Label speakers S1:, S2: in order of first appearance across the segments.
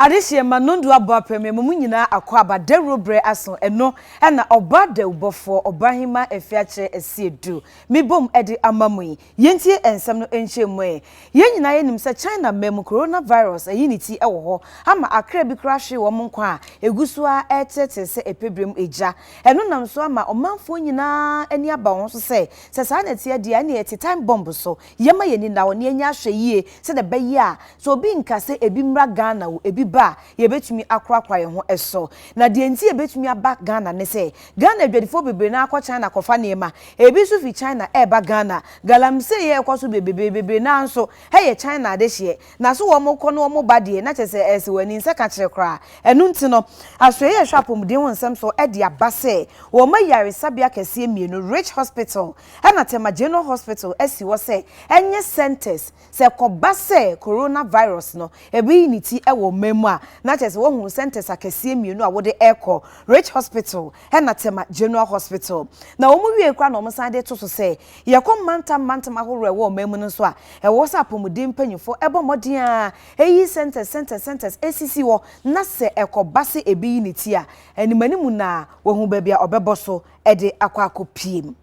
S1: Adehyeɛ ma nɔndu abɔ apɛm ɛma mo nyinaa akɔ aba dawuro berɛ aso ɛno na ɔba dawubɔfoɔ ɔbahemaa ɛfɛ akyerɛ ɛsi ɛdu me bom ɛde ama mo yi yɛntie ɛnsɛm no nkyɛmu ɛ yɛn nyinaa yɛnim sɛ China mmaa mu Corona virus ayi ne ti ɛwɔ hɔ ama akra bi koraa hwee wɔn nkwa a ɛguso ara ɛreteɛteɛ sɛ ɛpɛbrɛm egya ɛno nam so ama ɔmanfoɔ nyinaa ani aba wɔn so sɛ sɛ saa na ɛteɛ deɛ ɛneɛ ɛte time bomb so Yɛmma yɛn ani nna hɔ na yɛnyɛ ahwɛyie sɛdeɛ ɛbɛyɛ a sɛ obi nka sɛ ebi mmra Ghana o, ebi ba a, yɛbɛtumi akorakora yɛn ho so. Na deɛ nti a ɛbɛtumi aba Ghana ne sɛ, Ghana adwadifoɔ bebree no ara kɔ China kɔfa nneɛma. Ebi nso firi China reba Ghana. Galamsey a ɛrekɔ so bebrebe, bebree no ara nso yɛ China adehyeɛ. Na so wɔkɔ na wɔba deɛ, na kyerɛ sɛ ɛsɛ wɔn ani nsa ka kyerɛ koraa. Ɛno nti no, asoɛeɛ a ɛhwɛ apɔmuden ho nsɛm soɔ de aba sɛ wɔma yaresabea akɛseɛ mmienu, Rich Hospital, na Tema General Hospital asi hɔ sɛ ɛnyɛ centres, sɛ ɛkɔba sɛ Corona virus no reyi ne ti wɔ ɔman mu a, na kyerɛ sɛ wɔahu centres akɛseɛ mmienu a wode rekɔ, Rich Hospital na Tema General Hospital. Na wɔn wiee koraa na wɔn san de to so sɛ, yɛkɔ mantam mantam ahoroɔ a ɛwɔ ɔman mu no nso a, ɛwɔ sɛ apɔmuden mpanyinfoɔ bɔ mmɔden ara yi centres centres centres sisi hɔ na sɛ ɛkɔba sɛ ɛbi yi ne ti a, animanimu no ara wɔahu baabi a wɔbɛbɔ so de akɔ akɔpie mu.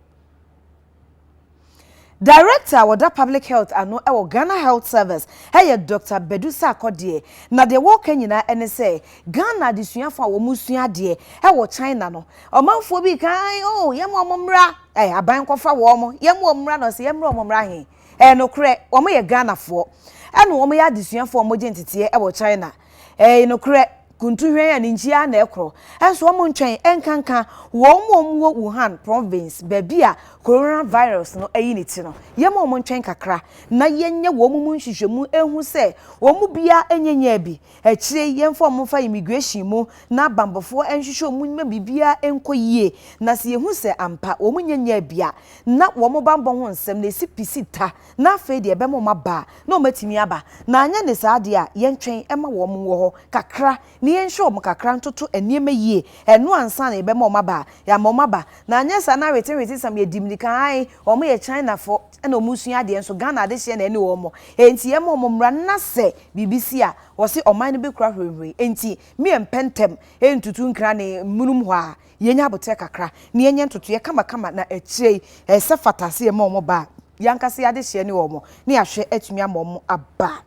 S1: Director a wɔda public health ano wɔ Ghana Health Service yɛ Doctor Badu Sarkodie, na deɛ wɔreka nyinaa ne sɛ Ghana adesuafoɔ a wɔresua adeɛ wɔ China no, ɔmanfoɔ bi reka ae oh yɛma wɔn mmra, eh, aban nkɔfa wɔn, yɛma wɔn mmra na ɔsɛ yɛmmra wɔn mmra he? Ɛyɛ nokorɛ, wɔyɛ Ghanafoɔ ɛna wɔyɛ adesuafoɔ a wɔgye nteteɛ wɔ China. Ɛɛ, nokorɛ, kuntuhwɛn a ne nkyia ara na ɛkorɔ. Nso wɔn ntwɛn nkanka wɔn a wɔwɔ Wuhan province, baabi a coronavirus no ayi ne ti no. Yɛmma wɔn ntwɛn kakra na yɛnyɛ wɔn mu nhwehwɛmu nhu sɛ wɔn mu biara nyɛ nyaa bi. Akyire yi yɛmfa wɔn mfa immigration mu na abanbɔfoɔ nhwehwɛ wɔn mu mma biribiara nkɔ yie. Na sɛ yɛhu sɛ ampa wɔn nyɛ nyaa bi a, na wɔn banbɔ ho nsɛm na ɛsi pi si ta. na afei deɛ ɛbɛma wɔn aba a, na wɔatumi aba, na anyɛ ne saa deɛ a, yɛntwɛn ma wɔn wɔ hɔ kakra, na yɛnhwɛ wɔn kakra ntoto nneɛma yie, ɛno ansa na yɛbɛma wɔn aba a, yɛama wɔn aba, na anyɛ saa na awetewetesɛm, yɛdi mmirika ae, wɔn yɛ Chinafoɔ, ɛna wɔn sua adeɛ nso, Ghana adehyeɛ na ɛne wɔn, enti yɛma wɔn mmra, na sɛ biribi si a, wɔse ɔman no bɛkura hurihuri, enti me yɛmpɛ ntɛm ntutu nkra ne mmunum hɔ ara, Yɛnya aboterɛ kakra na yɛnyɛ ntotoeɛ kamakama na akyire yi ɛyɛ sɛ fata sɛ yɛma wɔn ba a, yɛn ankasa yɛn adehyeɛ ne wɔn na yɛahwɛ atumi ama wɔn aba.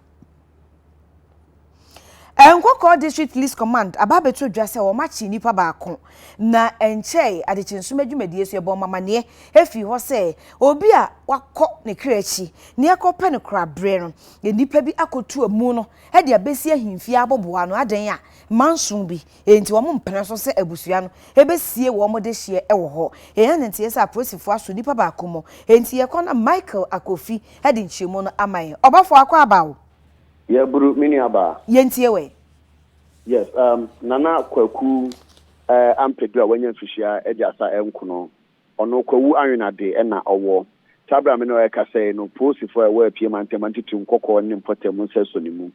S1: Nkɔkɔɔ District Police Command aba abɛto dwa sɛ wɔakye nnipa baako na ɛnkyɛe adekye nsoromma dwumadie so yɛbɔɔ wɔn amanneɛ ɛfiri hɔ sɛ obi a wakɔ ne kra akyi na yɛkɔpɛ no koraberɛ no nnipa bi akɔtu amu no de abɛsi ahemfie aboboa ano adɛn a manson bi Enti wɔmpene so sɛ abusua no besie wɔn dehyeɛ wɔ hɔ. Yɛn ananteɛ sɛ apolisifoɔ aso nipa baako mu. Enti yɛkɔ na Michael Akofi de nkyerɛmu no ama yɛn. Ɔbɔfoɔ Akwaaba o! Yɛaburu
S2: me nuabaa. Yɛntie wo ɛ.
S1: Yes,
S2: um Nana Kwaku eh, Ampadu a wanya mfirihyia aduasa nkono. Ɔno Kwawu Anwenade na ɔwɔ. Saa berɛ a me ne wo ɛrekasa yi no, poosifoɔ a ɛwɔ Apue Mantam Antutu Nkɔkɔɔ ne Mpɔtam nsa sɔ ne mu.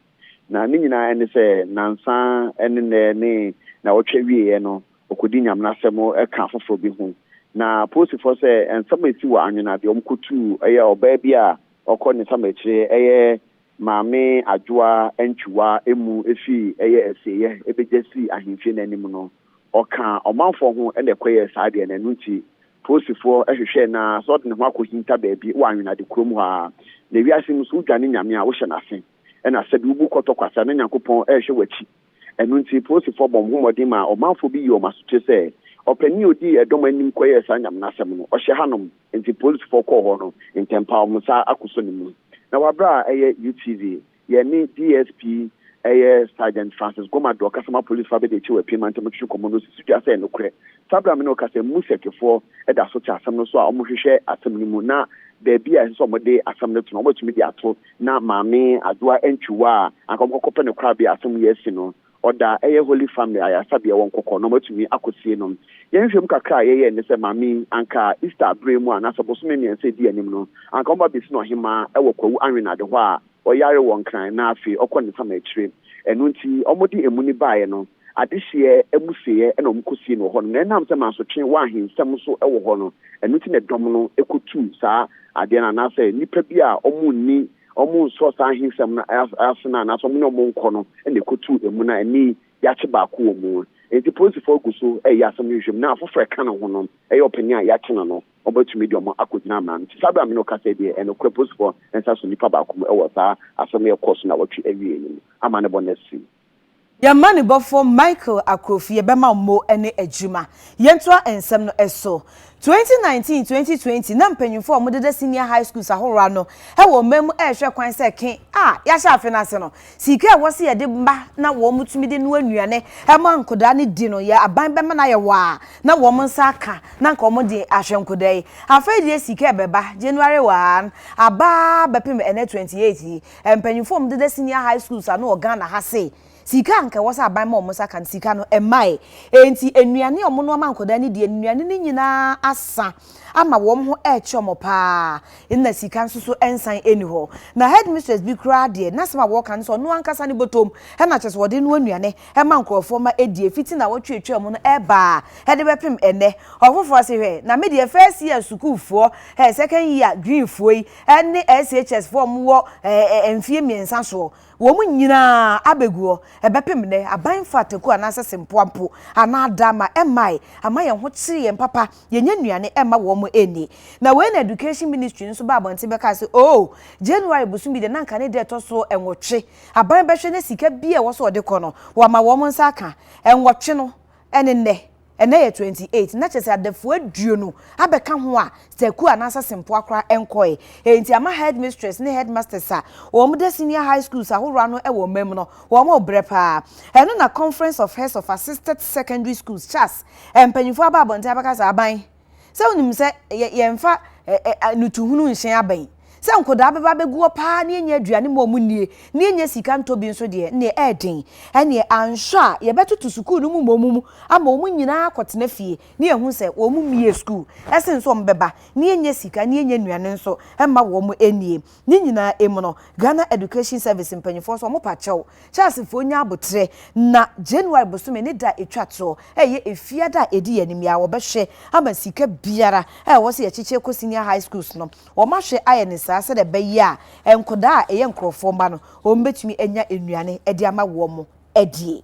S2: Na ne nyinaa ne sɛ, nnansa ne nnɛ ne na ɔtwa wieɛ no, ɔkɔdi Nyame no asɛm ka afoforɔ bi ho. Na Polisifoɔ sɛ nsɛm a ɛsi wɔ Anwena deɛ wɔkɔtuu yɛ ɔbaa bi a ɔkɔ ne samɛkyire yɛ Maame Adwoa Antwiwa mu firi yɛ Asieɛ bɛgya sii Ahemfie no anim no, ɔkaa ɔmanfoɔ ho na ɛkɔyɛɛ saa deɛ no. Ɛno nti Polisifoɔ hwehwɛɛ no ara sɛ ɔde ne ho akɔhinta baabi wɔ Anwena de kurom hɔ ara. Na wiase mu sɛ wodwane Nyame a wohyɛ no ase. ɛna sɛdeɛ wobu kɔtɔ kwasa na Nyankopɔn rehwɛ w'akyi. Ɛno nti polisifɔɔ bɔ ho mmɔden maa ɔmanfoɔ bi yii wɔn asotire sɛ ɔpanin a ɔdii ɛdɔm anim kɔyɛɛ saa nyaminasɛm no ɔhyɛ hanom nti polisifɔɔ kɔɔ hɔ no ntɛmpa wɔn nsa akosɔ ne mu. Na wɔ berɛ a ɛyɛ UTV yɛn ne DSP ɛyɛ Sergeant Francis Goma Duor kasa ma polisifɔɔ abɛdi akyire wɔ Apim mantam mu twetwe nkɔmmɔ no si so dua sɛ nokorɛ saa berɛ a me ne wo kasa yi Musekifɔɔ da so te asɛm no so a wɔhwehwɛ asɛm no mu na baabi a ɛsɛ sɛ wɔde asɛm no to no wɔbɛtumi de ato na Maame Adwoa Antwi Wɔ a anka wɔkɔkɔpɛ no korabea a asɛm yi asi no, ɔda ɛyɛ Holy Family ayaresabea wɔ Nkɔkɔ na wɔatumi akɔsie no. Yɛn nhwehwɛmu kakra a yɛyɛe ne sɛ maame yi, anka Easter berɛ mu anaasɛ bosome mmiɛnsa a ɛdi anim no, anka wɔba bɛsi no ɔhemmaa wɔ Kwawu Anwenade hɔ a ɔyare wɔ Nkran na afei ɔkɔ ne nsam akyire. Ɛno nti, wɔde emuni baeɛ no. adehyeɛ amusieɛ na wɔkɔsie no wɔ hɔ nom, na ɛnam sɛ mansotwe wɔ ahensɛm nso wɔ hɔ no, ɛno nti na dɔm no kɔtuu saa adeɛ no, anaa sɛ nnipa bi a wɔnni, wɔnsɔ saa ahensɛm no ase no, anaa sɛ wɔne wɔn nkɔ no na ɛkɔtuu emu no, ɛnnɛ yi yɛakye baako wɔ mu. Enti polisifoɔ gu so reyɛ asɛm no nhwehwɛmu, na afoforɔ a ɛka ne ho nom, ɛyɛ ɔpanin a yɛakye no no, wɔbɛtumi de wɔn akɔgyina mmara no nti. Saa berɛ a me ne wo kasa yi deɛ, ɛnokorɛ polisifoɔ nsa so nnipa baako mu wɔ saa asɛm a ɛkɔɔ so nnawɔtwe awieeɛ yi mu, ama ne bɔ no asi. Yɛn
S1: mmanibɔfo Michael Akrofie bɛma wo mo ne adwuma. Yɛntoa nsɛm no so. 2019, 2020 na mpanyimfo a wɔdeda senior high schools ahorow ano wɔ ɔman mu rehwɛ kwan sɛ ke a yɛahyɛ afe no ase no, siika a ɛwɔ sɛ yɛde ma na wɔtumi de noa nnuane ma nkwadaa no di no, yɛn aban bɛma no ayɛ wɔ a na wɔn nsa aka na anka wɔde ahwɛ nkwadaa yi. Afei deɛ siika a ɛbɛba January 1 aba bɛpem ɛnnɛ 28 yi, Mpanyimfo a wɔn deda senior high schools ano wɔ Ghana ha se sika a anka ɛwɔ sɛ aban ma wɔn nsa ka no, sika no mmae. Enti nnuane a wɔnoama nkwadaa no di, nnuane no nyinaa asa ama wɔn ho rekye wɔn pa ara. Nna sika nso so nsan nni hɔ. Na headmistress bi koraa deɛ, n'asɛm a wɔka ne sɛ ɔno ankasa ne bɔtɔm na kyerɛ sɛ wɔde noa nnuane ma nkurɔfoɔ ma ɛdie fiti nnawɔtwe a ɛtwaa mu no reba a de bɛpem ɛnnɛ. Ɔfoforɔ se hwɛ, na me deɛ first year sukuufoɔ, hɛ second year Greenfoɔ yi, ɛne SHS foɔ a wɔn wɔ ɛɛ mfie mmiɛnsa soɔ wɔn nyinaa abɛgu hɔ ɛbɛpem nnɛ aban mfa ataku anaasɛ sempoa mpo anaa dama mmae ama yɛn ho kyere yɛn papa yɛnya nnuane mma wɔn nni na wei na education ministry no nso ba abɔnten bɛkaa sɛ oo January bosome deɛ na nka ne da ɛtɔ so nwɔtwe aban bɛhwɛ na sika bi a ɛwɔ sɛ ɔde kɔ no wɔama wɔn nsa aka nwɔtwe no ɛne nnɛ ɛnnɛ yɛ twenty eight na kyerɛ sɛ adafua aduonu abɛka ho a sɛku anaasɛ sempoa koraa nkɔe. Eyi nti ama headmistress ne headmasters a wɔda senior high schools ahorow ano wɔ ɔman mu no wɔrebrɛ paa. Ɛno na Conference of Heads of Assisted Secondary Schools, CHASS, mpanyimfo aba abɔnten abɛka sɛ aban Sɛ wonim sɛ yɛ yɛmfa ɛ ɛ anutuhunu nhyɛn abɛn. Sɛ nkwadaa bɛba abɛgu hɔ paa na yɛnya aduane ma wɔn nnie na yɛnya sika ntɔ bi nso deɛ ɛnneɛ ɛyɛ den. Ɛnneɛ anhwɛ a yɛbɛtoto sukuu no mu mmom mu ama wɔn nyinaa akɔtena fie na yɛahu sɛ wɔn mmiee sukuu sene sɛ wɔbɛba na yɛnya sika na yɛnya nnuane nso mma wɔn nnie. Ne nyinaa emu no, Ghana Education Service mpanyinfoɔ nso wɔpa kyɛw Charlesfoɔ nya aboterɛ na January bosome ne da a ɛtwa toɔ a ɛyɛ efie da a ɛdi yɛn anim yi ara wɔbɛhwɛ ama sika biara a ɛwɔ sɛ yɛkyekyere kɔ senior high schools no wɔahwɛ ayɛ no saa sɛdeɛ ɛbɛyɛ a nkwadaa a ɛyɛ nkorɔfoɔ mma no wɔbɛtumi anya nnuane de ama wɔn adie.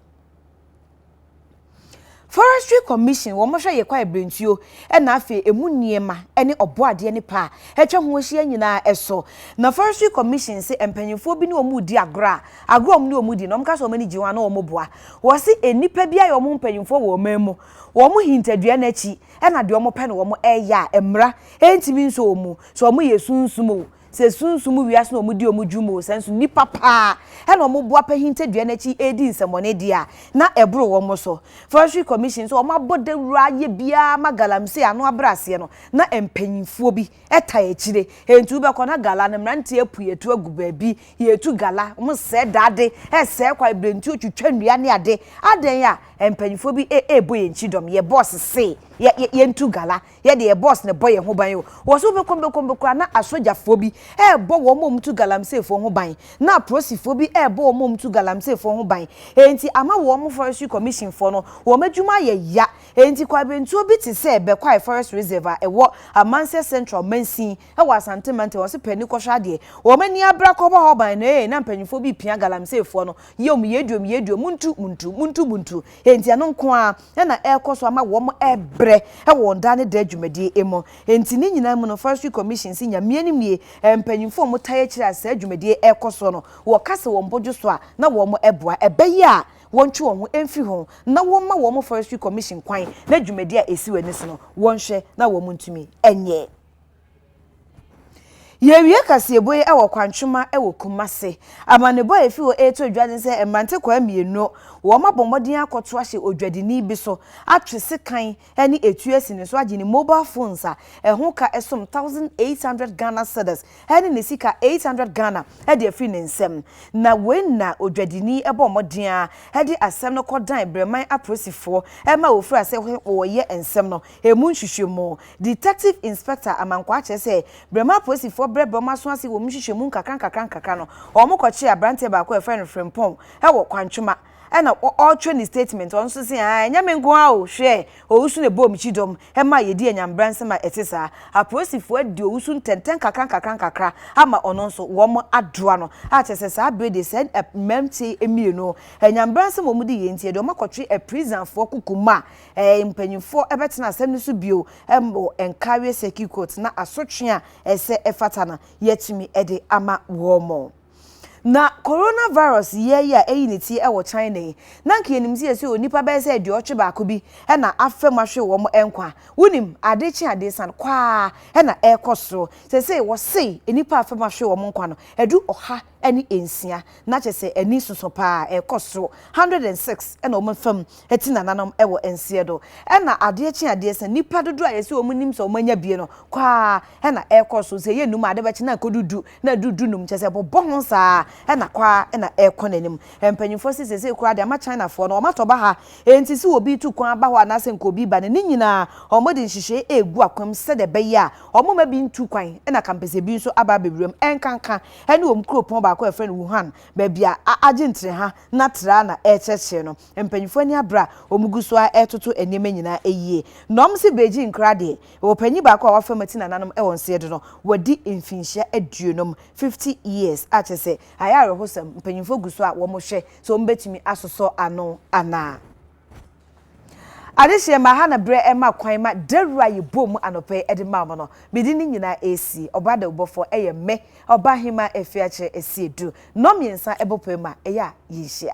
S1: Forestry Commission, wɔhwɛ yɛ kwae brentuo na afei emu nneɛma ne ɔbɔadeɛ ne paa atwa ho ahyia nyinaa ɛso. Na Forestry Commission se mpanyinfoɔ bi ne wɔn redi agorɔ a agorɔ a wɔn ne wɔn di no wɔn ka sɛ wɔn ani gye ho a na wɔn boa. Wɔse nnipa bi ayɛ wɔn ho mpanyinfoɔ wɔ ɔman mu. Wɔn hintadua no akyi na deɛ wɔn pɛ na wɔn ɛyɛ a mmra ntumi nsɔ wɔn mu. Sɛ wɔn yɛ sunsum o, Sɛ sunsum mu wiase na wɔdi wɔn dwuma oo, sɛ nso nnipa paa na wɔboa apahinta dua no akyi redi nsɛmmɔne deɛ a, na ɛboro wɔn so. Forestry Commission nso, wɔabɔ dawuro ayɛ biara ma galamsey ano abrɛaseɛ no, na mpanimfoɔ bi taa akyire. Enti wobɛkɔ na gala no, mmeranteɛ apue atu agu baabi, yɛretu gala, wɔsɛe dade, sɛe kwae, brɛ ntuo, twitwa nnua ne adeɛ. Adɛn a mpanimfoɔ bi rebɔ yɛn kyidɔm, yɛbɔs se yɛntu gala, Yɛ deɛ boss no bɔ yɛn ho ban o. Wɔ so wobɛkɔ bɛkɔ mu koraa na asogyafoɔ bi rebɔ wɔn a wɔtu galamseefoɔ ho ban, na aporosifoɔ bi rebɔ wɔn a wɔtu galamseefoɔ ho ban. Enti ama wɔn Forestry Commission foɔ no wɔn adwuma ayɛ ya. Enti kwaebentuo bi te sɛ Bɛkwae Forest Reserve a ɛwɔ Amansɛ Central mansin wɔ Asante Mantam wɔ se panni kɔhwɛ adeɛ. Wɔn ani abra kɔbɔ hɔ ban no ee na mpanyinfoɔ bi repia galamseefoɔ no. Yom, yɛaduom, yɛaduom, montu, montu, montu, montu. Enti ɛno nko ara. na na ɛrekɔ so ama wɔrebrɛ wɔ wɔn daa ne daa dwumadie mu. Enti ne nyinaa mu no, Forestry Commission se Nyame anim nie, mpanyimfo a wɔn tae akyire a saa dwumadie yi rekɔ soɔ no, wɔka se wɔn bodwo so a na wɔn boa, ɛbɛyɛ a wɔntwe wɔn ho mfiri ho na wɔmma wɔn Forestry Commission kwan na dwumadie a ɛsi wɔn ani so no wɔnhwɛ na wɔntumi nyɛ. Yɛrewie kaseɛbɔ yi wɔ Kwantwema wɔ Kumase. Amanebɔ a ɛfiri hɔ reto dwa ne sɛ mmerantekwaa mmienu, wɔabɔ mmɔden akɔto ahyɛ odwadini bi so, atwe sekan ne etuo asi ne so agye ne mobile phones a ɛho ka som K1 800 Ghana cedis ne ne sika K800 hundred Ghana de afiri ne nsam. Na wei na odwadini bɔɔ mmɔden ara de asɛm no kɔdan Breman apolisifoɔ ma wɔfiraa ase wɔreyɛ nsɛm no. Emu nhwehwɛmu. Detective Inspector Amankwaa kyerɛ sɛ berɛm apolisifoɔ brɛbrɛ wɔn aso ase wɔ mu nhwehwɛmu nkakrankakra no, wɔn kɔkyee abranteɛ baako a yɛfrɛ no Frimpong wɔ Kwantwoma ɛna ɔretwɛn ne statement, ɔno nso se aa ɛnyɛ me nko ara o, hwɛ owusu na ɛbɔɔ me kyidɔm ɛma a yɛdi anyambra nsɛm a ɛte saa. Apolisifoɔ adi owusu ntɛntɛn nkakrankakra ama ɔno nso wɔn adoa no a kyerɛ sɛ saa bere deɛ saa mmranteɛ mmienu anyambra nsɛm a wɔn di yɛ nti yɛde wɔn akɔtwe aprisanfoɔ kuku mu a eh, mpanyinfoɔ ɛbɛtena asɛm no so bio ɛmɔ nkareɛ circuit court na asotwe a ɛsɛ ɛfata no yɛatumi ɛde ama wɔmɔ. Na coronavirus yɛ yi a ɛyi ne tie ɛwɔ China yi, na nka yɛnim sɛ yɛsɛ onipa bɛyɛ sɛ aduɔtwe baako bi ɛna afa mu ahwe wɔn ɛnkwa. Wonim, ade kye ade san kɔ ara ɛna ɛrekɔ soro. Sɛsɛi wɔsei nnipa afa mu ahwe wɔn nkwa no ɛdu ɔha ne nsia na kyerɛ sɛ ani soso paa ɛkɔ soro hundred and six ɛna wɔn fam ɛti nananom ɛwɔ nseɛ do ɛna adeɛ kye adeɛ sɛ nipa dodo a yɛsi wɔn nim sɛ wɔn anya bie no kɔ a ɛna ɛkɔ so sɛ yɛ num ade bɛkye na ɛkɔ dudu na ɛdu du num kyerɛ sɛ ɛbɔbɔ ho saa ɛna kɔ a ɛna ɛkɔ n'anim mpanyinfoɔ si sese kura deɛ ama China foɔ no wɔn atɔ ba ha enti si obi tu kwan aba hɔ anaasɛ nka obi ba no ne nyinaa wɔn de nhyehyɛ egu akwam sɛdeɛ ɛbɛyɛ a wɔn ma bi ntu kwan ɛna kampɛsɛ bi nso aba abɛwura mu ɛnkanka ɛne wɔn kuropɔn baako a wɔfrɛ no Wuhan, baabi a Argentina ha na tra na ɛrekyerɛkyerɛ no. Mpanyimfo ani abere a wɔgu so ara retoto nneɛma nyinaa yie, na wɔse Beijing koraa deɛ, wɔwɔ panyin baako a wafam ati nananom wɔ nseɛ do no, wadi mfinhyia aduonum, fifty years, a kyerɛ sɛ ayɛ awerɛhosɛm, mpanyimfo gu so a wɔrehwɛ sɛ wɔbɛtumi asosɔ ano anaa. Adehyeɛ ma ha na berɛ ɛma kwan ma dawuro a yɛbɔɔ mu anɔpa yi de maa mo no, mede ne nyinaa resi. Ɔbaa dawubɔfoɔ, ɛyɛ me, Ɔbaahema Afiakyere Asiedu. Nnɔn mmiɛnsa bɔ pue ma ɛyɛ a yɛnhyia.